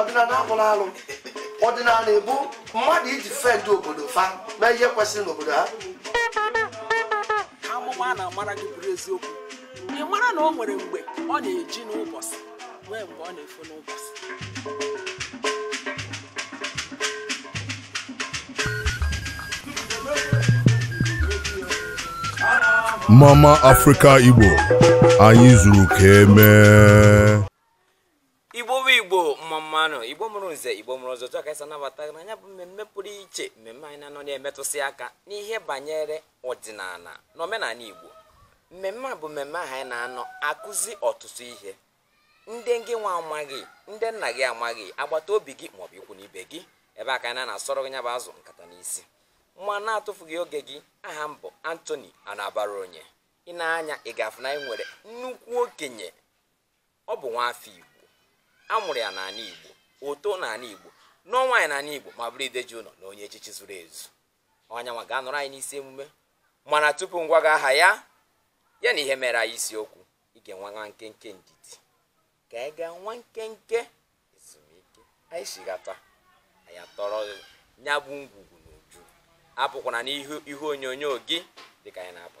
ọdịnala abụrọ alụ ọdịnala bụ mmadụ ị defend obodo fa mee ihe kwesịrị n'obodo ha amụma a na-amara gị bụrụ eziokwu ị mara na o nwere mgbe ọ na-eji n'ụbọchị nwee mgbe ọ na-efo n'ụbọchị mama afrịka igbo anyị zuru ka emee igbo bụ igbo mma mma nụ igbo mụrụ nze igbo mụrụ ọzọ chọọ ka anyị si anabata na nya bụ mmemme pụrụ iche mmemme anyị na-anọ na-emetụsị aka n'ihe banyere ọdịnala na omenala Igbo mmemme a bụ mmemme ahụ anyị na-anọ akụzi ọtụtụ ihe ndị gị nwa amaghị ndị nna gị amaghị agbata obi gị maọbụ ikwu na ibe gị ebe a ka anyị na-asọrọ gị nya bụ azụ nkata n'isi ma n'atụfughị oge gị aha m bụ Anthony Anabaraonye i nee anya ị ga-afụ na anyị nwere nnukwu okenye ọ bụ nwaafọ Igbo a mụrụ ya n'ala Igbo o too n'ala Igbo nụọ nwaanyị n'ala Igbo ma bụrụ ide ji ụlọ na onye echichi zuru ezu ọ nyanwa ga-anọrọ anyị n'isi emume mana tupu m gwa gị aha ya ya na ihe mere anyị isiokwu ị ga-enwe nwa nkenke ndidi ka anyị gaa nwa nkenke ezumike anyị chighata anyị atọrọ ya bụ ngwugwu n'uju apụkwara n'ihu ihe onyonyo gị dịka anyị na-apụ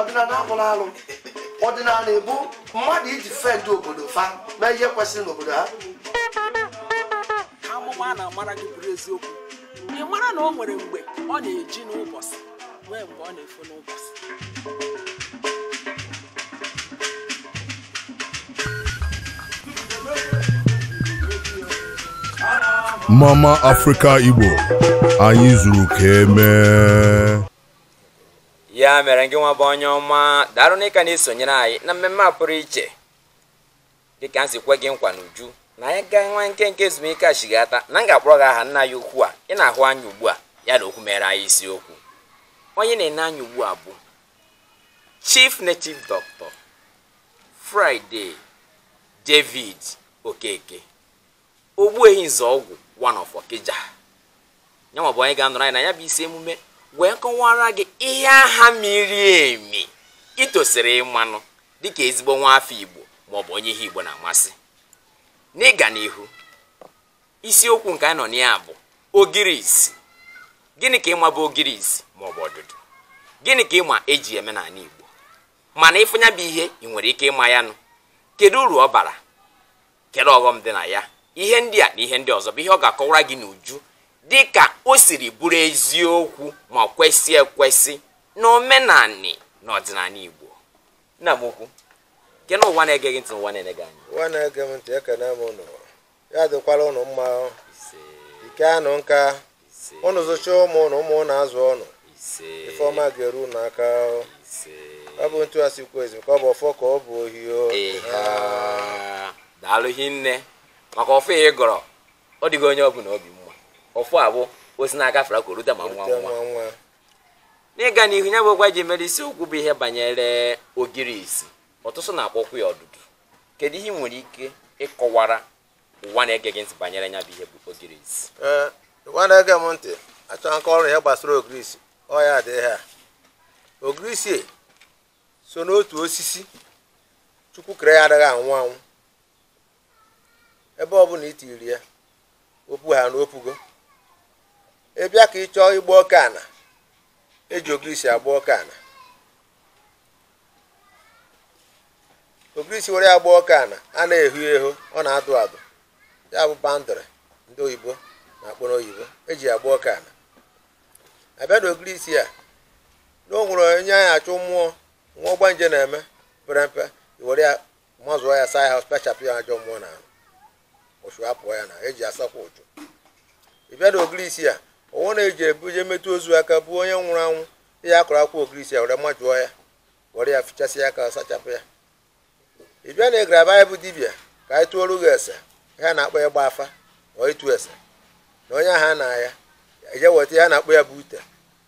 ọdịnala abụrọ alụ ọdịnala bụ mmadụ ị defend obodo fa mee ihe kwesịrị n'obodo ha amụma a na-amara gị bụrụ eziokwu ị mara na o nwere mgbe ọ na-eji n'ụbọchị nwee mgbe ọ na-efo n'ụbọchị mama afrịka igbo anyị zuru ka emee ya mere gị nwa bụ onye ọma daalụ na ị ka na-esonyere anyị na mmemme a pụrụ iche dịka m si kwe gị nkwa n'uju na anyị gaa nwa nkenke ezumike chighata na m ga-akpọrọ gị aha nna anyị ukwu a ị na-ahụ anya ugbu a ya na okwu mere anyị isiokwu onye ị na-ene anya ugbu a bụ chief native doctor Friday David Okeke Ogbuehi Ezeọgwụ one of Okija nyanwa bụ onye ga-anọrọ anyị na ya bụ isi emume wee kọwara gị ihe ahụ miri emi i tosiri ịmanụ dịka ezigbo nwa afọ Igbo maọbụ onye ihe Igbo na-amasị n'ịga n'ihu isiokwu nke anyị nọ na ya bụ ogirisi gịnị ka ị ma bụ ogirisi maọbụ ọdụdụ gịnị ka ị ma e ji eme n'ala Igbo mana ị fụ nya bụ ihe ị nwere ike ịma ya nụ kedu uru ọ bara kedu ọghọm dị na ya ihe ndị a na ihe ndị ọzọ bụ ihe ọ ga-akọwara gị n'uju dị ka o siri bụrụ eziokwu ma kwesị ekwesị na omenanị na ọdịnanị Igbo nna m ukwu kene ụwa na-ege gị ntị ụwa na-ene gị anya ụwa na-ege m ntị ekene m ụnụ ya dịkwara ụnụ mma ị kaanụ nka ụnụ zụcha ụmụ ụnụ ụmụ ụnụ azụọ ụnụ ife ọma ga-eru ụnụ aka ọ bụ etu esi kwuo ezi ka ọ bụ ọfọ ka ọ bụ ohi o daalụ hinne maka ọfọ a ị gọrọ ọ dịgo onye ọ bụna obi mma ọfọ a bụ o si n'aka fere aka o rute ma nwa nwa n'ịga n'ihu nya bụkwa eji mere isiokwu bụ ihe banyere ogirisi ọtụtụ na-akpọkwa ya ọdụdụ kedu ihe ị nwere ike ịkọwara ụwa na-ege gị ntị banyere nya bụ ihe bụ ogirisi ee ụwa na-ege m ntị achọ m ịkọrọ ihe gbasara ogirisi ọ ya dị ihe a ogirisi so n'otu osisi Chukwu kere ya adịghị anwụ anwụ ebe ọ bụna i tiri ya o puha na o pugo ị bịa ka ị chọọ ịgba oke ana eji ogirisi agba oke ana ogirisi were ya gbaa oke ana a na-ehu ehu ọ na-adụ adụ ya bụ boundary ndị oyibo na-akpọ n'oyibo eji ya gbaa oke ana a bịa na ogirisi a na o nwere onye anyị achụ mmụọ nwa ọgbanje na-eme pere mpe were ya mazụọ ya saa ya sachapụ ya ajọ mmụọ na uchu apụọ ya na eji asakwa uchu ị bịa na ogirisi a ọ wụ na i jebe jee metụ ozu aka bụ onye nwụrụ anwụ ị ya-akụrụ akwụkwọ ogirisi a were majụọ ya were ya fichasịa aka ọ sachapụ ya ị bịa na ị gara anyị bụ dibịa ka anyị tụọrọ gị ese ihe a na-akpọ ya ịgba afa ọ ịtụ ese na onye ahụ a na ya eje weta ihe a na-akpọ ya bụ ute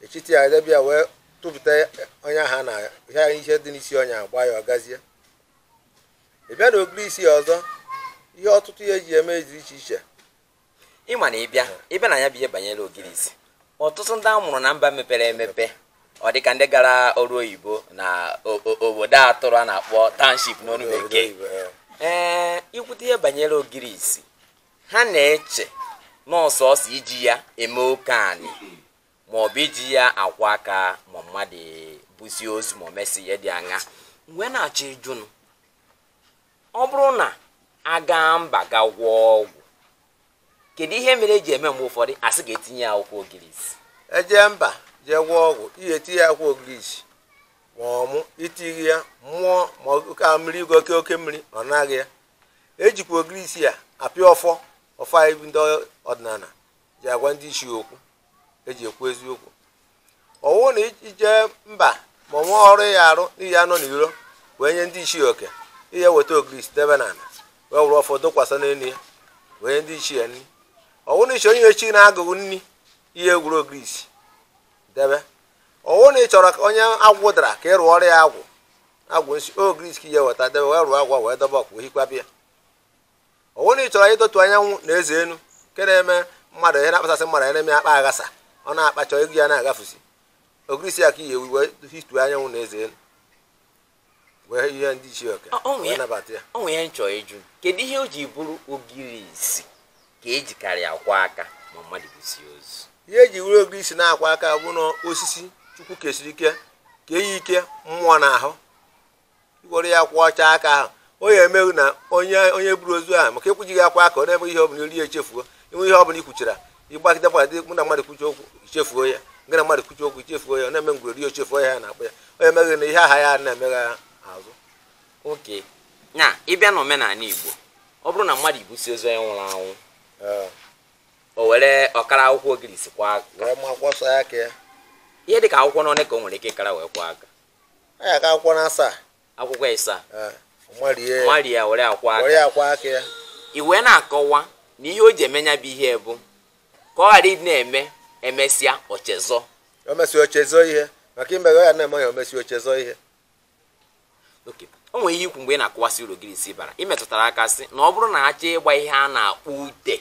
echiti ya debe ya wee tụpụta onye ahụ na ya ihe anyị ihe dị n'isi onye a gwa ya ọ gazie ị bịa na ogirisi a ọzọ ihe ọtụtụ ihe eji eme dị iche iche ị ma na ị bịa ị bịa na nya bụ ihe banyere ogirisi ọtụtụ ndị a mụrụ na mba mepere emepe ọ dịka ndị gara ọrụ oyibo na obodo a tụrụ a na-akpọ township n'onu bekee ee i kwute ihe banyere ogirisi ha na-eche na ọ sọọsọ iji ya eme oke anị ma ọ bụ iji ya akwọ aka ma mmadụ busịa ozu ma ọ mesị ihe dị anya m wee na-achọ ịjụnụ ọ bụrụ na a gaa mba ga gwọọ ọgwụ kedu ihe mere eji eme mgbe ụfọdụ a sị ga tinye akwụkwọ ogirisi e jee mba jee gwọọ ọgwụ ị ya-etinye akwụkwọ ogirisi ma ọmụ i tighi ya mmụọ ma oke mmiri igo oke oke mmiri anaa gị ya ejikwa ogirisi a apị ọfọ ọfọ anyị ndị ọdịnana ji agwa ndị isi okwu eji ekwu eziokwu ọ wụ na i je mba ma o nwee ọrụ ị ya-arụ ị ya-anọ n'iro wee nye ndị ichie oke ị ya-eweta ogirisi debe na ala wee were ọfọ dokwasa n'elu ya wee nye ndị ichie nri ọ wụ na ị chọ inye chi na agwụ nri ị ya-ewuru ogirisi debe ọ wụ na ị chọrọ ka onye agwụ dara ka ị rụọrọ ya agwụ agwụ nsi ogirisi ka ị ya-eweta debe wee rụọ agwụ wee dobe ọkụ hikwa bịa ọ wụ na ị chọrọ idotu anyanwụ na eze enu nke na-eme mmadụ ihe na-akpasasị mmadụ ya na-eme akpa aghasa ọ na-akpa chọọ ego ya na-agafusi ogirisi ya ka ị ya-ewe wee hitu anyanwụ na eze enu wee nye ndị ichie oke Ọ- ọ nwụ wee ya- nabata ya o nwere ihe m chọ ịjụ kedu ihe o ji bụrụ ogirisi ka ejikarị akwa aka ma mmadụ busi ozu ihe eji were ogirisi na-akwa aka bụ na osisi chukwu kesiri ike kenye ike mmụọ n'ahụ i were ya kwọchaa aka ahụ onye emeghị na onye onye buru ozu ahụ maka ịkwụjighị akwa aka ọ na-eme ihe ọbụla i rie i chefuo inwe ihe ọbụla i kwuchara ị gbagide gbagide mụ na mmadụ kwuchi okwu i chefuo ya gị na mmadụ kwuchi okwu i chefuo ya ọ na-eme ngwere rie o chefuo ya ya na-akpọ ya onye emeghị na ihe aha ya na-emegha azụ oke na ị bịa na omenala igbo ọ bụrụ na mmadụ ibusi ozu onye nwụrụ anwụ o were ọ kara akwụkwọ ogirisi kwa aka wee ma kwọsa aka ya ihe dị ka akwụkwọ n'one ka o nwere ike ịkara wee kwa aka ọ ya-aka akwụkwọ na asaa akwụkwọ ịsaa Eh, marie ya. marie ya were akwa were aka ya kwa aka ya i wee na-akọwa na ihe o ji eme ya bụ ihe bụ ka ọ ghara ịdị na-eme e mesịa o chezọ o mesi o chezọọ ihe maka i meghị ya na-eme ya o mesi o chezọọ ihe oke o nwere ihe i kwu mgbe ị na-akọwasị uru ogirisi bara ị metụtara aka sị na ọ bụrụ na a chọọ ịgba ihe a na-akpọ ute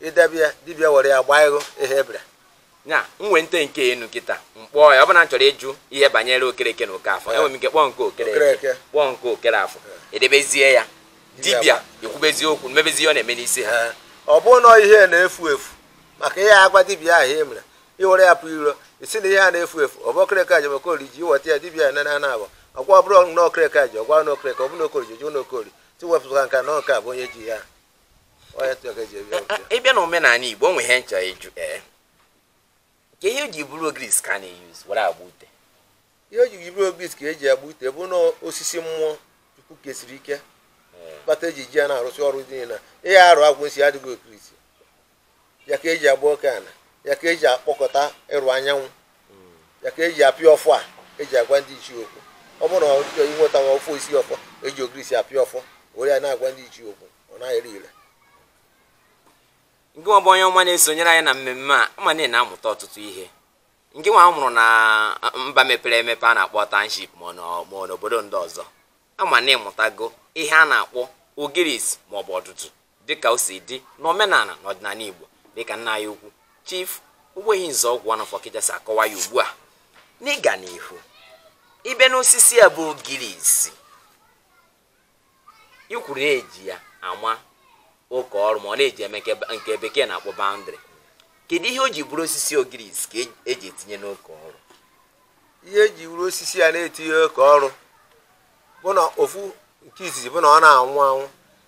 i debe ya dibịa were ya gbaa ego ihe ebere nya nwee nte nke enu nkịta m kpọọ ya ọ bụ na m chọrọ ịjụ ihe banyere okereke na okereafọ enwere m ike kpọọ nke okereke kpọọ nke okereafọ edebezie ya dibịa ekwubezie okwu mebezie ọ na-eme n'isi ha ọ bụrụ na ihe na-efu efu maka ihe a gwa dibịa ahụ e mere i were ya pụọ iro ị sị na ihe a na-efu efu ọ bụ okereke ji ya ma okori ji i weta ya dibịa ya nana abụ ọ gwa ọ bụrụ na okereke ji ya ọ gwa na okereke ọ bụ na okori ji jụ na okori tiwepụta nka na nke a bụ onye ji ya ị bịa na omenala igbo o nwe ihe m chọ ịjụ ee kee ihe o ji bụrụ ogirisi ka a na-euse were agba ute ihe o ji bụrụ ogirisi ka eji agba ute bụ na osisi mmụọ chukwu kesiri ike kpata eji ji ya na-arụsị ọrụ ị naghị arụ agwụ nsi adịghị ogirisi ya ka eji agba oke ana ya ka eji akpọkọta iru anyanwụ ya ka eji apịa ọfọ a eji agwa ndị ichie okwu ọ bụrụ na ọ chọọ inweta nwa osisi ọfọ eji ogirisi apịa ọfọ were ya na-agwa ndị ichie okwu ọ na-ere ire ngị nwa bụ onye ọma na-esonyere anyị na mmemme a ama m na ị na-amụta ọtụtụ ihe ngị nwa a mụrụ na mba mepere emepe a na-akpọ township ma ọ nọ- ma ọ n'obodo ndị ọzọ ama m na ịmụtago ihe a na-akpọ ogirisi maọbụ ọdụdụ dịka o si dị n'omenala na ọdịnala Igbo dịka nna anyị ukwu Chief Ogbuehi Nzeọgwụ Ọnọfọ Ọkịja si akọwa ya ugbu a n'ịga n'ihu ebe n'osisi a bụ ogirisi i kwuru na eji ya awa oke ọrụ ma ọ na-eji eme nke bekee na-akpọ boundary kedu ihe o ji bụrụ osisi ogirisi ka eji etinye n'oke ọrụ ihe eji were osisi ya na-eti oke ọrụ bụ na ofu nke izizi bụ na ọ na-anwụ anwụ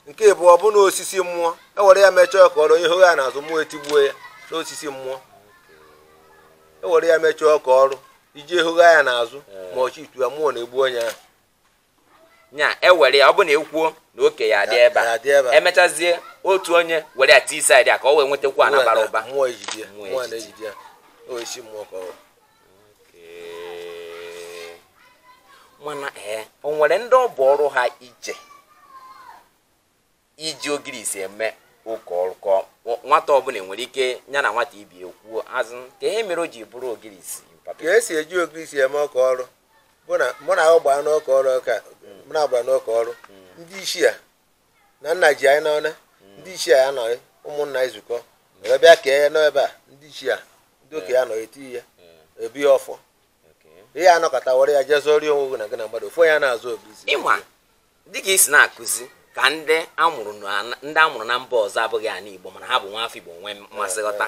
nke ibụọ bụ na osisi mmụọ ewere ya mechaa oke ọrụ ị hogha ya n'azụ mmụọ etigbuo ya n'osisi mmụọ ewere ya mechaa oke ọrụ i je ehogha ya n'azụ ma ọchị itu ya mmụọ na-egbu onye ahụ nya ewere ya ọ bụ na ekwuo na oke ya adị ebe Ya adị ebe a a. emechazie otu onye were ya tii side a ka o wee nwetakwu ana bara ụba mmụọ ejide ya Mmụọ mmụọ ejide. na-ejide ya osisi mmụọ ka ọ bụ. Ee. mana ee o nwere ndị ọ bụ ọrụ ha ije iji ogirisi eme oke ọrụ kọ Nwa- nwata ọbụla nwere ike ya na nwata ibe ekwuo azụ ka ihe mere o ji bụrụ ogirisi papa ka esi eji ogirisi eme oke ọrụ bụ na mụ na ahụ gbara n'oke ọrụ oke mụ na a gbara n'oke ọrụ ndị isi a na nna ji anyị n'ọna ndị isi a anọghị ụmụnna ezukọ were bịa kee ya n'ebe a ndị isi a ndị okenye anọghị eti ya ebi ya ọfọ Okay. ihe anọkọta were ya jee zọọrọ ya onwe gị na gị na mmadụ ofu onye a na-azọ ogirisi ịma dịka i si na-akụzi ka ndị amụrụ ndị amụrụ na mba ọzọ abụghị ala Igbo mana ha bụ nwa afọ Igbo nwee mmasị ghọta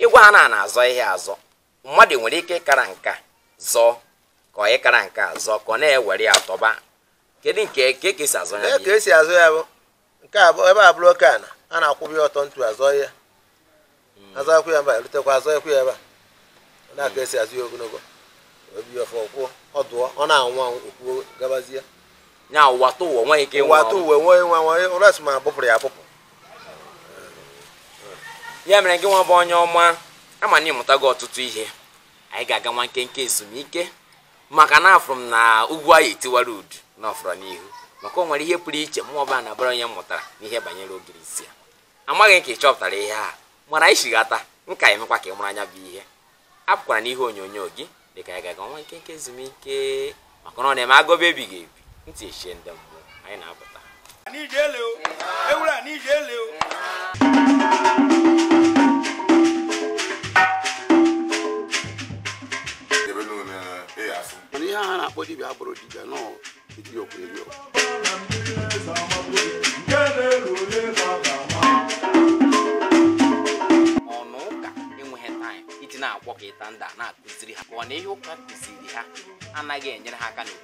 ịgwa ha na a na-azọ ya azọ mmadụ nwere ike ịkara nka zọọ ka ọ ịkara nka zọọ ka ọ na-ewere ya tọba kedu nke ka esi azọ ya ka esi azọ ya bụ nke a bụ- ebe a bụrụ oke ana a na-akwụba ya ọtọ ntu azọ ya azọ akwụ ya mba erutekwa azọ ekwu ya ebe a ọ na-aka esi azọ ya ogologo obi ọfọ kwụọ ọ dụọ ọ na-anwụ anwụ ọ kwụgabazie nya ụwa tụ ụwa nweghị ike ịnwụ ụwa atụ anwụ. uwe nwee nwa nwa ụlọ asị ma ebupụrụ ya ebupụ ya mere gị nwa bụ onye ọma ama m na ịmụtago ọtụtụ ihe anyị ga-aga nwa nkenke ezumike maka na afụrụ m na egwu a ya-etiwara udu na ọ fọrọ n'ihu maka o nwere ihe pụrụ iche mụ ọbụla na bara onye mụtara n'ihe banyere ogirisi a amaghị m ka ị chọpụtara ihe a mana anyị chighata m ga-emekwa ka ị mara nya bụ ihe apụkwara n'ihu onyonyo gị dịka anyị ga-aga nwa nkenke ezumike maka na ọ na-eme agụba ebighị ebi ndị ichie ndị mbụ anyị na-apụta ewura n'ije olee ihe ha na-akpọ dibia abụrụ dibia nọ dibia okwu eri okwu ụnọ ụka enweghị time iji na-agwọ kịta ndị a na-akụziri ha ka ọ na ihe ụka kụziri ha anaghị enyere ha aka n'obodo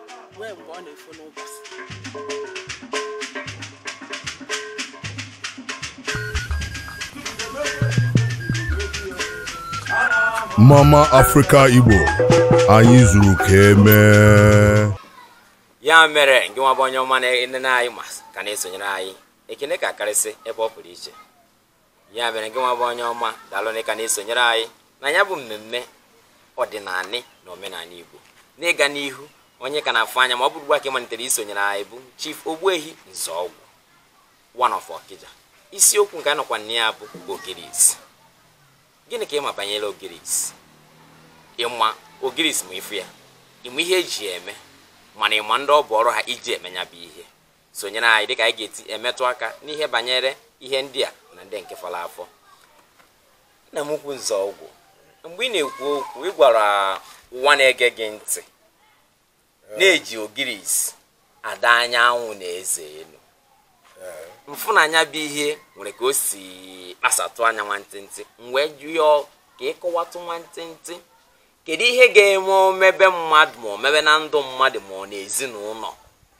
wee mgbe ọ na-efu n'ụbọchị mma mma afrịka igbo anyị zuru ka emee ya mere ngị nwa bụ onye ọma na-enene anyị ma ka na-esonyere anyị ekene ka karịsị ebe ọ pụrụ iche ya mere ngị nwa bụ onye ọma daalụ na ịka na-esonyere anyị na ya bụ mmemme ọdịnanị na omenala Igbo n'ịga n'ihu onye ka na-afụ anya ma ọ bụrụ ugbu a ka ị malitere isonyere anyị bụ Chief Ogbuehi Nzọọgwụ one of Okija isiokwu nke a nọkwa na ya bụ Ogirisi gịnị ka ịma banyere Ogirisi ịma Ogirisi ma ịfụ ya ịma ihe eji eme mana ịma ndị ọ bụ ọrụ ha iji eme ya bụ ihe sonyere anyị dịka anyị ga-esi emetụ aka n'ihe banyere ihe ndị a na ndị nke fọrọ afọ nna m ukwu Nzọọgwụ mgbe ị na-ekwu okwu ị gwara ụwa na-ege gị ntị na-eji ogirisi adọ anyanwụ na eze enu m fụ na nya bụ ihe nwere ka o si kpasatụ anya nwantịntị m wee chọọ ka ịkọwatụ nwantịntị kedu ihe ga-eme omebe mmadụ ma omebe na ndụ mmadụ ma ọ na ezinụlọ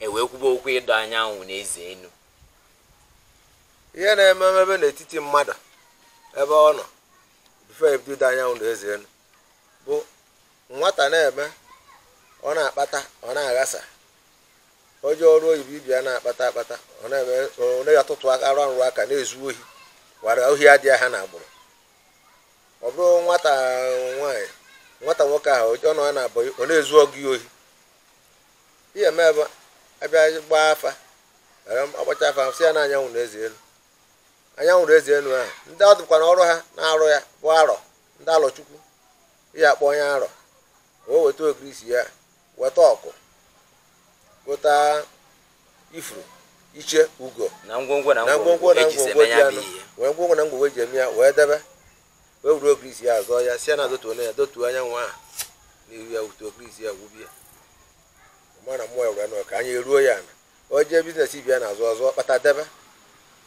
ewee kwuba okwu ịdọ anyanwụ na eze enu ihe na-eme omebe n'etiti mmadụ ebe ọ nọ before e bido ịdọ anyanwụ na eze enu bụ nwata na-eme ọ na-akpata ọ na-aghasa o jee ọrụ oyibo ibe ya na-akpata akpata ọ na-eme ọ na-atụtụrụ aka na-ezu ohi wara ohi adịghị ha na agbụrụ ọ bụrụ nwata nwaanyị nwata nwoke ahụ ọ nọ ya na abụghị ọ na-ezu ọga ya ohi ihe eme bụ abịa gbaa afa were agbacha afa a sị ya na anyanwụ na eze enu anyanwụ na eze enu ahụ ndị ọ bụkwanụ ọrụ ha na-arụ ya bụ arọ ndị alọchukwu ihe akpọ onye arọ o weta ogirisi ya weta ọkụ weta ifuru iche ugo na ngwongwo na ngwongwo na ngwongwo dị anụ wee ngwongwo na ngwongwo eji eme ya wee debe wee were ogirisi ya azọ ya sị ya na dọtuo ya dọtuo anyanwụ ahụ n'ihu ya wutuo ogirisi ya gwubie mana mmụọ ya were anụ ka anya eruo ya ana o jee business ibe ya na-azụ ọ zụọ kpata debe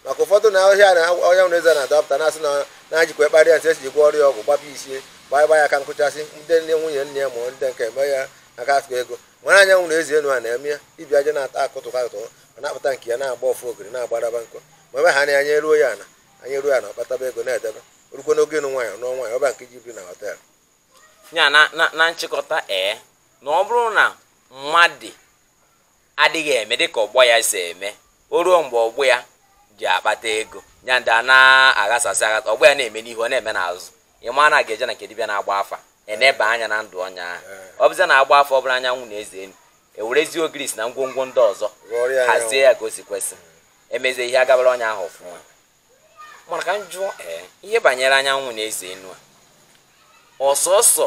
maka ụfọdụ na ọhịa na ọhịa nwere eze na-adọpụta na-asị na na-ajikwa ekparị ya nsị esi jikwa ọrịa ọgwụ gbapụ isie gbaa gba ya aka nkụchasị ndị nne nwunye nne ya ma ndị nke eme ya aka atụ ego mara anyanwụ na eze enu a na-eme ya ibi aja na-ata akụtụ akụtụ ọ na-akpata nke ya na-agba ọfụ ogiri na-agbaraba nkọ ma ebe ha na anya eruo ya ana anya eruo ya ana ọ kpataba ego na-edebe orukwe n'oge ịnụ nwaanyị nụọ nwaanyị ọba nke ji biri na họtel ya na na na nchịkọta ee na ọ bụrụ na mmadụ adịghị eme dịka ọgbọ ya si eme o ruo mgbe ọgbọ ya ji akpata ego ya ndị a na-aghasasị aghasa ọgbọ ya na-eme n'ihu ọ na-eme n'azụ ị ma na a ga-eje na nke dibịa na-agba afa eneba anya na ndụ onye ahụ ọ bụzi na agba afa ọ bụrụ anyanwụ na eze enu ewerezie ogirisi na ngwongwo ndị ọzọ hazie ya ka o si kwesị emezie ihe agabara onye ahụ ọfụma mana ka m jụọ ee ihe banyere anyanwụ na eze enu a ọsọ ọsọ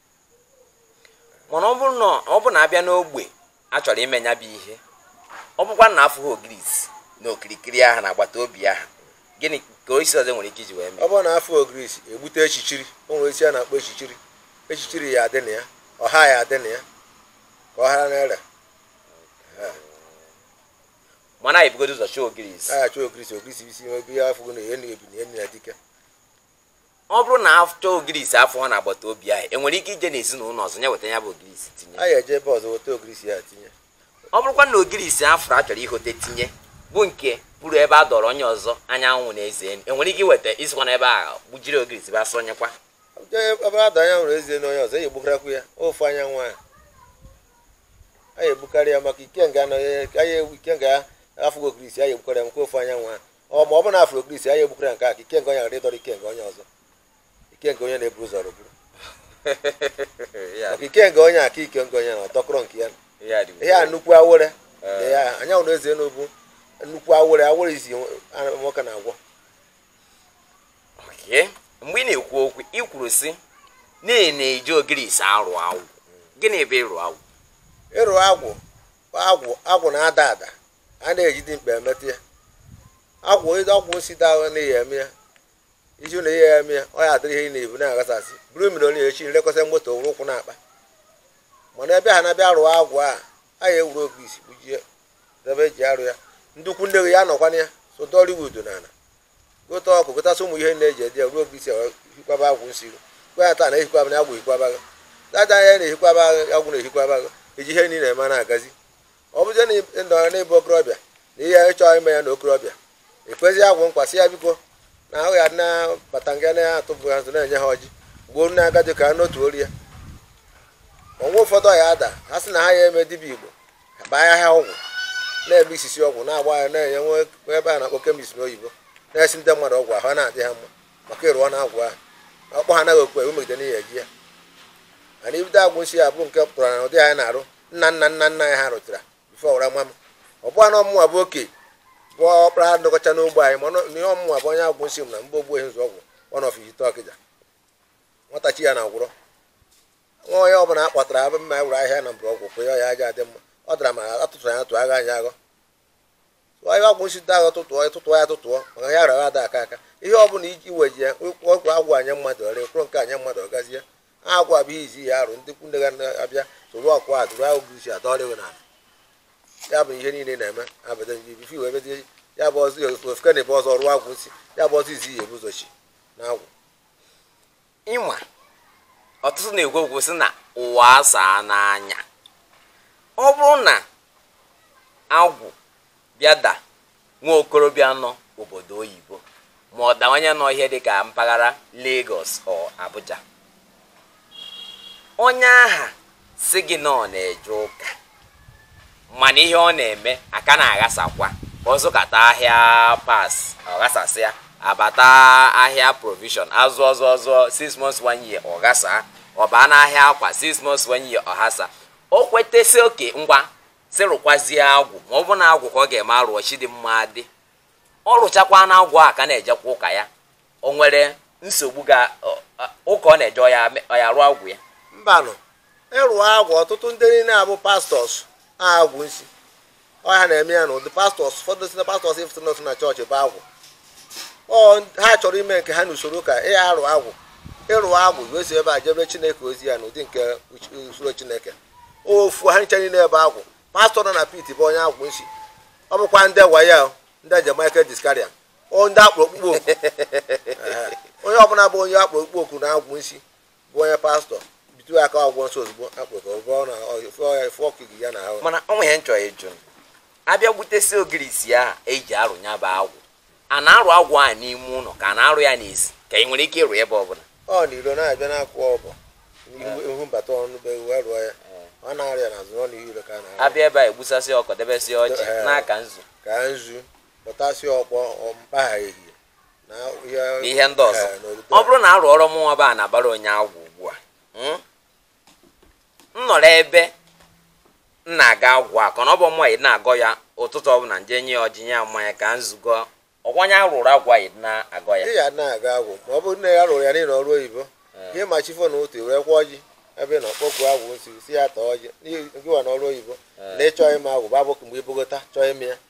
mana ọ bụrụ na ọ bụ na abịa n'ogbe a chọrọ ime ya bụ ihe ọ bụkwa na afụghị ogirisi na okirikiri ahụ na agbata obi ahụ gịnị ka osisi ọzọ nwere ike iji wee mee ọ bụrụ na afụrọ ogirisi egbute echichiri o nwere osisi a na-akpọ echichiri echichiri ya adị na ya ọha ya adị na ya ka ọ hara n'ere mana anyị bugodo ụzọ chọọ ogirisi aghachi ogirisi ogirisi isi ebe ya afụgo na enyi ebi na enyi ya dike ọ bụrụ na achọọ ogirisi afụrọ na agbata obi ahụ enwere ike ije n'ezinụlọ ọzọ ya weta ya bụ ogirisi tinye a ga-eje ebe ọzọ weta ogirisi ya tinye ọ bụrụkwa na ogirisi afụrụ a chọrọ ihote tinye bụ nke puru ebe a dọrọ onye ọzọ anyanwụ na eze enu enwere ike iweta isikwa na ebe ahụ gbujiri ogirisi bịa sụnyekwa ebe a dọrọ anyanwụ na eze enu onye ọzọ eji egbukarakwu ya ofu anyanwụ ahụ a ga-egbukarị ya maka ikenga anọghị ikenga afụgo ogirisi a ga-egbukarị ya maka ofu anyanwụ ahụ ọ ma ọ bụ na afụrọ ogirisi ya ya egbukwara ya nke a ka ike nke onye ghara ịdọrọ ike nke onye ọzọ ike nke onye na-eburu ụzọ rụburu maka ike nke onye aka ike nke onye na ọdọkọrọ nke ya ihe a nnukwu awere anyanwụ na eze enu bụ nnukwu awere awere izi nwoke na-agwọ mgbe ị na-ekwu okwu ị kwuru si na-eji ogirisi arụ agwụ gịnị bụ ịrụ agwụ ịrụ agwụ agwụ agwụ na-ada ada a na-eji dimkpa emetụ ya agwụ agwụ nsi dawa na ihe eme ya iju na ihe eme ya ọ ya adịrị ihe ị na-ebu na-aghasasị bụrụ mmiri onye echi nlekọta moto wụrụ ụkwụ na-akpa mana ebe ha na-abịa rụọ agwụ a a ya ewere ogirisi gbujie debe eji arụ ya ndị ikwu nne gị ya nọkwana ya so dọliwud na ala gote ọkụkọ gotasị ụmụ ihe na-eji edi ya ruo ogirisi hikwaba agwụ nsi gwa ya taa na ehikwaba na agwụ ehikwaba gị dada ya na-ehikwaba agwụ na-ehikwaba gị eji ihe niile eme na-agazi ọ bụzie na ị nọrọ n'ịbụ okorobịa na ihe ị chọrọ ime ya na okorobịa ekwezi agwụ nkwa sị ya biko na ahụ ya na-abata nga na-atụbụ ha nzu na-enye ha ọjị gbuo nne agadi ka ha n'otu ori ya o nwere ụfọdụ ọya ada ha sị na ha ya eme dibịa igbo ha baa ya ha ọgwụ na-eme isisi ọgwụ na-agba ya na-enye nwa ebe a na-akpọ chemist n'oyibo na-esi ndị mmadụ ọgwụ ahụ na-adị ha mma maka ịrụọ na agwụ ahụ ọkpọ ha anaghị ekwe umegide n'ihi eji ya mana ibido agwụ nsi ya bụ nke pụtara na ụdị anyị na-arụ nna nna nna nna anyị ha rụchara before o rua m ọ bụghị na ọ mụnwa bụ oke bụ ọkpara ndọkọcha n'ogbe anyị mana ihe ọ mụnwa bụ onye agwụ nsị m na mgbe ogbu ehi nzụ ọgwụ one of ite ọkịja nwatachi ya na agwụrọ nwa onye ọ bụla a kpọtara abụ mma ya were ahịhịa na mgbọrọgwụ pụ ya ọ ya aja adị mma ọ dara ma atụtụrụ ya atụ agha anyị aghọ ahịa agwụ nsi ahụ tụtụọ tụtụọ ya tụtụọ maka ya rara ada aka aka ihe ọ bụla iji weji ya ọgwụ agwụ anya mmadụ ọrịa kwụrụ nke anya mmadụ ọ gazie agwụ a bụ izi ya arụ ndị kwunne ga abịa soro ọkụ a dụrụ ahụ bụ isi adọrịghị na ya bụ ihe niile na-eme abada njibifi wee mezie ya bụ ọzọ ofeke na ebe ọzọ rụọ agwụ nsi ya bụ ọzọ izi ya ebuzochi na agwụ ị ma ọtụtụ na-ekwu okwu sị na ụwa asaa n'anya ọ bụrụ na agwụ bịa da nwa okorobịa nọ obodo oyibo ma ọ da onye nọ ihe dịka mpaghara Lagos or Abuja onye aha sị gị na ọ na-eje ụka mana ihe ọ na-eme aka na-aghasakwa ọ zụkata ahịa parts ọ ghasasịa abata ahịa provision azụọ zụọ zụọ 6 months 1 year ọ ghasa ọ baa n'ahịa akwa 6 months 1 year ọ ghasa o kweta sị okay ngwa sị rụkwazie agwụ ma ọ bụ na agwụ ka ọ ga-eme a rụọ chidimma dị ọ rụchakwa na agwụ a ka na-ejekwa ụka ya o nwere nsogbu ga ọ- ọ- ụka ọ na-eje ọ ya me- ọ ya rụọ agwụ ya mbanụ ịrụ agwụ ọtụtụ ndị niile a bụ pastors agwụ nsi ọ ya na-eme ha na ụdị pastors ụfọdụ si na pastors ị fụtụ n'otu na chọọchị bụ agwụ ọ ha chọrọ ime nke ha n'usoro ụka ị ya arụ agwụ ịrụ agwụ wee si ebe a jebe chineke ozi ya n'ụdị nke uch- usoro chineke ofu ha ncha niile ebe agwụ pastor nọ na pit bụ onye agwụ nsi ọ bụkwa ndị waya ndị je michael discaria ndị a kpọrọ ọkpụkpọ oku onye ọbụla bụ onye a kpọrọ ọkpụkpọ oku na agwụ nsi bụ onye pastor bitu ya aka ọgwụ nsọ ozugbo akpụ ka ọgwụ na efe ọkụ gị ya na ahụ mana ọ nweghị nchọ ịjụ a bịa gbutesi ogirisi a e ji arụ ya bụ agwụ a na-arụ agwụ a n'ime ụlọ ka a na-arụ ya n'ezi ka ị nwere ike ịrụ ebe ọbụla ọ n'iro na-abịa na-akwụ ọbụ ihu mbata ọnụ be wee rụọ ya ọ na-arịa n'azụ ọ n'iro ka a na-arụ a bịa ebe a egbusasị ọkụkọ debesịa ọjị n'aka nzu ka nzu kpọtasị ọkpọ mba ehihie na ihe- na ihe ndị ọzọ Eh, na obodo ọ bụrụ na a rụọrọ mụnwa ba na-abara onye agwụ ugbu a mm, m nọrọ ebe m na-agọ agwụ a ka na ọ bụ mwa na-agọ ya ụtụtụ ọbụla m je nye ya ọjị nye ya mmanya ka nzu ka ọ kwa onye rụrụ agwụ a ya na-agọ ya ị ya na-agọ agwụ ma ọ bụrụ na ya rụrụ ya niile ọrụ oyibo ihe ma chi foo n'ụtụtụ werekwa ọjị ebe na ọkpọku agwụ nsi sị ya taa ọjị n'ihi gịwa na ọrụ oyibo na ịchọ ịma agwụ bụ abụkụ mgbe ibogota chọọ ime ya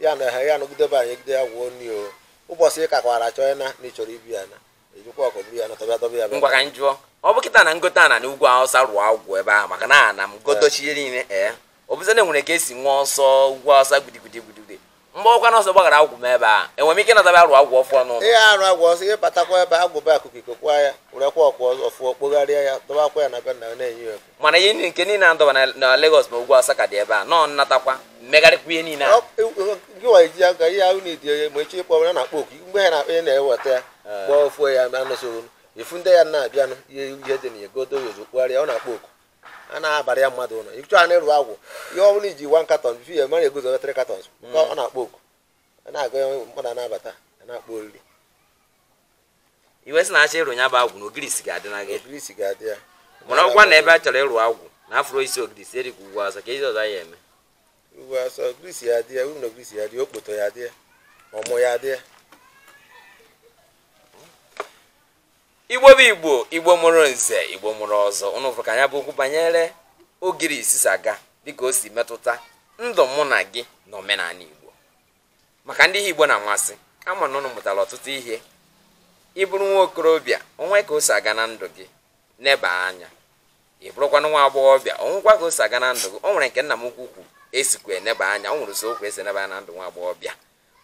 ya na ha ya nọgide be anyị gide ya gwuo nri o ụbọchị ị kakwara chọọ ya na na ị chọrọ ibi ya na ejikwa ọkụ buru ya na tọbịa tọbịa ya ngwa ka m jụọ ọ bụ kịta na m gote ana na ugwu awụsa rụọ agwụ ebe ahụ maka na ana m gotochie niile ee ọ bụzi na enwere ka esi nwa ọsọ ugwu awụsa gbudigudi gbudigudi mgbe ọkwa na ọsọ gbaghara agwụ m ebe a enwere m ike ịnatabịa rụọ agwụ ọfụọ n'ụlọ ihe arụ agwụ ọzọ ihe batakwa ebe agwụba akụkụ ikokwa ya werekwa ọkwa ọfụọ kpogharịa ya dọbakwa ya na be nna ya na-enye ya mana ihe niile nke niile adọba na- na Lagos ma ugwu Awụsa ka dị ebe a nọ m natakwa m megharịkwa ihe niile a Ọ- e- e- gị nwa iji aka ihe ahụ na-edi onye ma echi ịkpọ ya na-akpọ oku mgbe ya na-akpọ ya na-eweta ya gba ofu ya ma anụsoghi ifu ndị ya na-abịanụ ihe ihe dị na ya godo ya ozu kpụgharịa ọ na-akpọ oku a na-abara ya mmadụ ụlọ ịchọ a na-arụ agwụ ihe ọ bụla iji one carton before ya mara egozuo three cartons ka ọ na-akpọ oku a na-agụ ya mmadụ a na-abata a na-akpọ oriri ị wee sị na achọọ ịrụ ya bụ agwụ na ogirisi ga-adị na gị ogirisi ga-adị ya mana ọkwa na ebe a chọrọ ịrụ agwụ na afụrọ isi ogirisi eri ka ugwu awụsa ka ezi ọzọ ya eme ugwu awụsa ogirisi ya adị ya uru na ogirisi ya adị ya okpoto ya adị ya ọmụ ya adị ya igbo bụ igbo igbo mụrụ nze igbo mụrụ ọzọ ụnụ fụrụ ka nya bụ okwu banyere ogirisi si aga dịka o si metụta ndụ mụ na gị na omenanị igbo maka ndị ihe igbo na-amasị ama m na ụnụ mụtara ọtụtụ ihe ị bụrụ nwa okorobịa o nwee ka o si aga na ndụ gị neba anya ị bụrụkwanụ nwa agbọghọbịa o nwekwa ka o si aga na ndụ gị o nwere nke nna m ukwu kwu esikwa eneba anya o nwere ụzọ o kwu esi eneba anya na ndụ nwa agbọghọbịa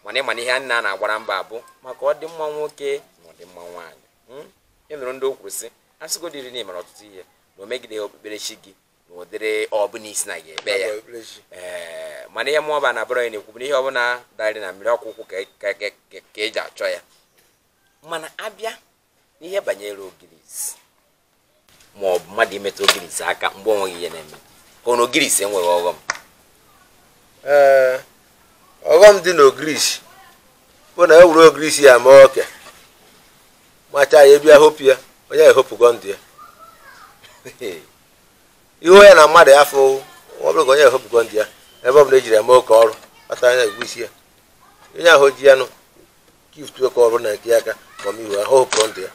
mana ịma na ihe niile a na-agbara mbọ bụ maka ọdịmma nwoke na ọdịmma nwaanyị ị hmm? nụrụ ndị o kwuru sị asịgodiri na ịmara ọtụtụ ihe na o megideghị okpukperechi gị n'ụdịrị ọbụla i si na ya ekpe ya ee mana ihe mụọba na bụrụ ya na-ekwu bụ na ihe ọbụla darị na mmiri ọkwa ụkwụ ka e- ka- ka- ka- ka eji achọ ya mana abịa n'ihe banyere ogirisi ma ọ bụ mmadụ imetụ ogirisi aka mgbe o nweghị ihe na-eme ka ọ na ogirisi enweghị ọghọm ee ọghọm dị n'ogirisi bụ na e wuru ogirisi ya mee oke machaa ya abịa hopụ ya onye ehopụgo ndụ ya ihe ya na mmadụ ya afụ ọ bụrụ ka onye ehopụgo ndụ ya ebe ọ bụla ejiri eme oke ọrụ kpatara ya ogirisi ya onye ahụ ji ya nụ gift oke ọrụ na nke ya aka ọmihu ahụ hopụrụ ndụ ya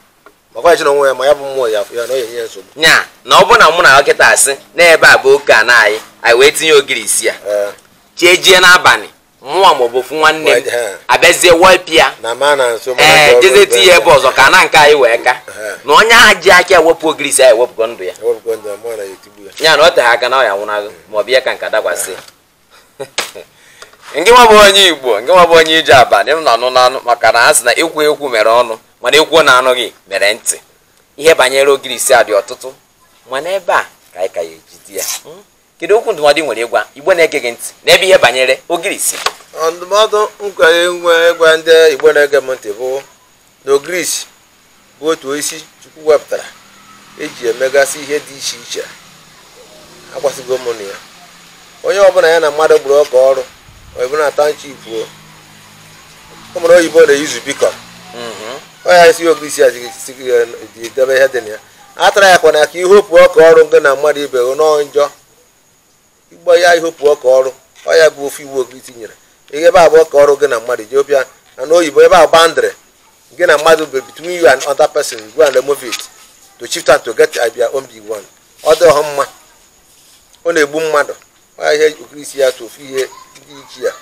makwa echi na onwe ya ma ya bụ mmụọ ya afọ ya na onye nye ya nsogbu nya na ọ bụ na mụ na dọkịta asị n'ebe a bụ oke ana anyị anyị wee tinye ogirisi ya Ee, chie jie n'abalị mụnwa maọbụ ofu nwanne m abịazie wepụ ya ee jezie tinye ya ebe ọzọ ka ana nke anyị wee ka na onye ahụ ji aka ewepụ ogirisi ya ewepụgo ndụ ya ya na ọ teghị aka na ọ ya nwụnahụ maọbụ ihe ka nka dakwasị nke nwa bụ onye igbo nke nwa bụ onye ije abalị m na-anụ n'anụ maka na a sị na ekwu ekwu mere ọnụ mana ekwuo na anụghị mere ntị ihe banyere ogirisi a dị ọtụtụ mana ebe a ka anyị ka ya ejide ya hmm? kedu okwu ndụmọdụ ị nwere ịgwa igbo na-ege gị ntị n'ebe ihe banyere ogirisi ọ ndụmọdụ m kwere inwe ịgwa ndị igbo na-ege m ntị bụ na ogirisi bụ otu osisi chukwu wepụtara eji emegasị ihe dị iche iche akọwasịgo m na ya onye ọbụla ya na mmadụ gburu oke ọrụ ọ bụ na township o ụmụ oyibo na-eyuzu beacon ọ ya si ogirisi adịghị debe ihe dị na ya atara ya kwana ka ihopu oke ọrụ gị na mmadụ ibe gị nọọ njọ igbo ya ihopu oke ọrụ ọ ya bụ ofu iwu oge itinyere ihe ebe a bụ oke ọrụ gị na mmadụ ji obịa na n'oyibo ebe a boundary gị na mmadụ be between you and other person go and remove it to shift and to get your own big one ọ dịhọ mma ọ na-egbu mmadụ ọ ya ihe ogirisi ya bụ ofu ihe ndị ichie ya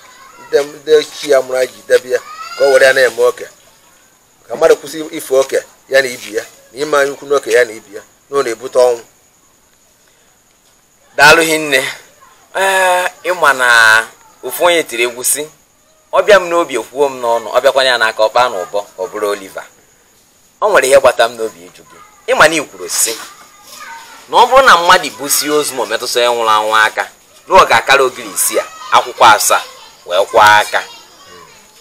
ndị ndị ichie ya mụrụ anyị ji debe ya ka o were ya na-eme oke ka mmadụ kwụsị ifo oke ya na ibe ya na ime anya ukwu n'oke ya na ibe ya na ọ na-ebute ọnwụ daalụ hinne ee ịma na ofu onye tiri egwu sị ọ bịa m n'obi ekwuo m n'ọnụ ọ bịakwanụ ya n'aka ọ kpaa n'ụbọ ka ọ bụrụ oliver ọ nwere ihe gbata m n'obi ịjụ gị ịma na i kwuru sị na ọ bụrụ na mmadụ busie ozu ma ọ bụ metụsị onye nwụrụ anwụ aka na ọ ga-akara ogirisi a akwụkwọ asaa wee kwọọ aka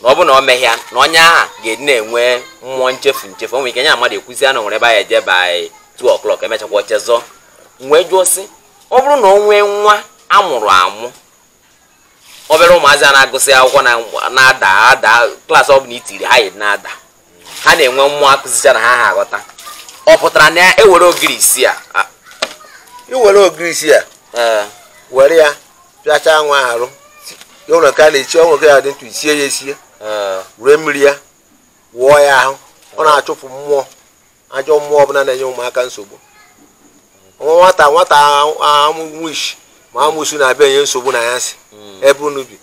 na ọ bụ na ọ mehị ya na onye ahụ ga-adị na-enwe mmụọ nchefu nchefu o nwere ike nya na mmadụ ekwuzi na o nwere ebe a ya-eje by 2 o'clock emechakwa o chezọọ wee jụọ sị ọ bụrụ na ọ nwee nwa a mụrụ amụ obere ụmụazị a na-agụsị akwụkwọ na-ada ada klaasị ọ bụla itiri ha yi na-ada ha na-enwe mmụọ akụzicha na ha ha aghọta ọ pụtara na e were ogirisi a i were ogirisi a were ya pịachaa nwa arụ ya ụlọ nke a na-echi ọnwụ nke ya dị ntụ i sie ya esie were mmiri ya wụọ ya ahụ ọ na-achụpụ mmụọ ajọ mmụọ ọbụla na-enye ụmụaka nsogbu nwa nwata nwata ma witch ma amụsu na-abịa enye nsogbu na ya si hmm. ebe unu bi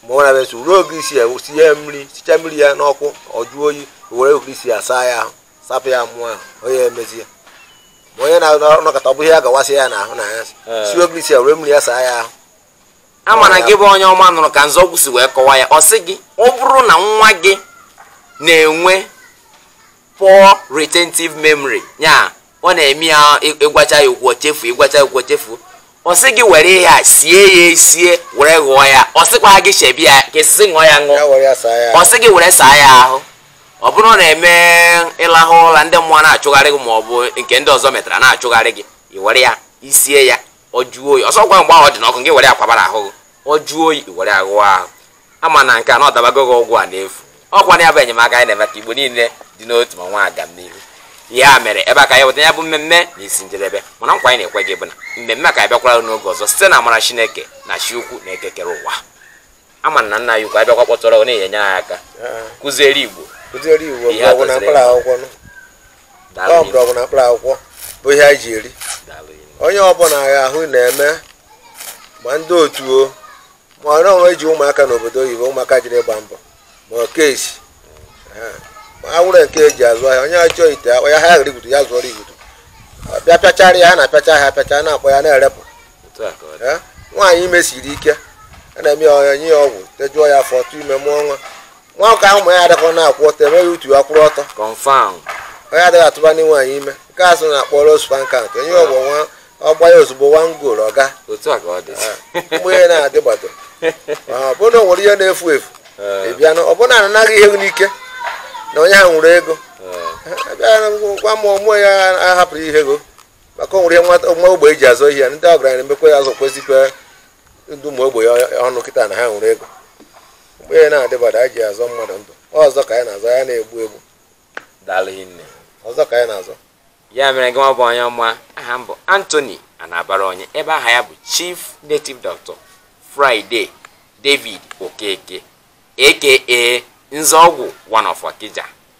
ma ọ na-abịa nsogbu ruo ogirisi a tinye ya mmiri sicha mmiri ya n'ọkụ ọ jụọ oyi were ogirisi a saa ya ahụ sapụ ya mmụọ ahụ onye emezi ya ma onye na-anọkọta ọ bụghị ya gawasị ya n'ahụ na ya eh. sie ogirisi a were mmiri ya saa ya ahụ a mana gị bụ onye ọma nụrụ ka nzọgwụ si wee kọwa ya ọ sị gị ọ bụrụ na nwa gị na-enwe poor retentive memory ya ọ na-eme ya ị gwachaa ya okwu o chefuo ị gwachaa ya okwu o chefuo ọ sị gị were ihe a sie ya esie were ghụọ ya ọ sịkwa gị chebi ya ka esisi ṅụọ ya ṅụọ ọ sị gị were saa ya ahụ ọ bụrụ na eme ịlahụ ụla ndị mmụọ na-achụgharị gị ma ọ bụ nke ndị ọzọ metara na-achụgharị gị i were ya i sie ya ọ jụọ oyi ọ sọkwa mgbe ahụ ọ dị n'ọkụ gị were ya kwabara ahụ gị ọ jụọ oyi i were aghụọ ahụ a ma na nke a na ọ dabago gị ọgwụ a n'efu ọ kwa na ya bụ enyemaka anyị na-eme ka igbo niile dị n'otu ma nwee agamnihu ya mere ebe a ka a ya-eweta ya bụ mmemme n'isi njedebe mana nkwa anyị na-ekwe gị bụ na mmemme a ka abịakwara n'oge ọzọ site n'amara chineke na chi ukwu na eke kere ụwa ama na nna ya ukwu abịakwa kpọtụrụ ọ na-enye anyị aka kụziere igbo kụziere igbo Ihe mgbọrọgwụ na atụziri mkpa akwụkwọ nụ. Daalụ ọ Igbo. mgbọrọgwụ na mkpa akwụkwọ bụ ihe anyị ji eri Daalụ Igbo. onye ọbụla ahụ na-eme ma ndị otu o ma ọ nọọ eji ụmụaka n'obodo oyibo ụmụaka jiri ịgba mbọ ma ọ kesi awụrụ nke e ji azụ ahịa onye chọọ ite akpa ya ha ghara igutu ya zụọrọ igutu Ọ bịa pịachara ya ha na-apịacha ha apịacha na-akpọ ya na-erepụ nwaanyị ime siri ike a na-eme ya nye ya ọgwụ tejuo ya afọ ọ tụọ ime mụọ nwa nwoke ahụ amụ ya adịrọ na-akwụ ọtọ e mee ya utu ya kwụrụ ọtọ onye adịghị atụba ndị nwaanyị ime nke a sị na-akpọrọ sperm count onye ọgwụ nwa ọ gbaa ya ozugbo one goal ọga mgbe ihe na-adị gbado ọbụna o nwere ihe na-efu efu ịbịa na ọbụna anaghị ihe n'ike na onye ha nwere ego abịa gwa m ọmụọ ya ahapụrụ ihe ego maka o nwere nwa ogbe e ji azụ ihe ndị ọgaranya na-emekwa ya azụ kwezikwa ndị ụmụ ogbe ọnụ kịta na ha nwere ego mgbe ya na-adịbada a ji azọ mmadụ ndụ ọzọ ka anyị na-azọ ya na-egbu egbu ọzọ ka anyị na-azọ ya mere gị nwa bụ onye ọma aha m bụ Anthony Anabara onye ebe aha ya bụ Chief Native Doctor Friday David Okeke aka Nzeọgwụ one of Okija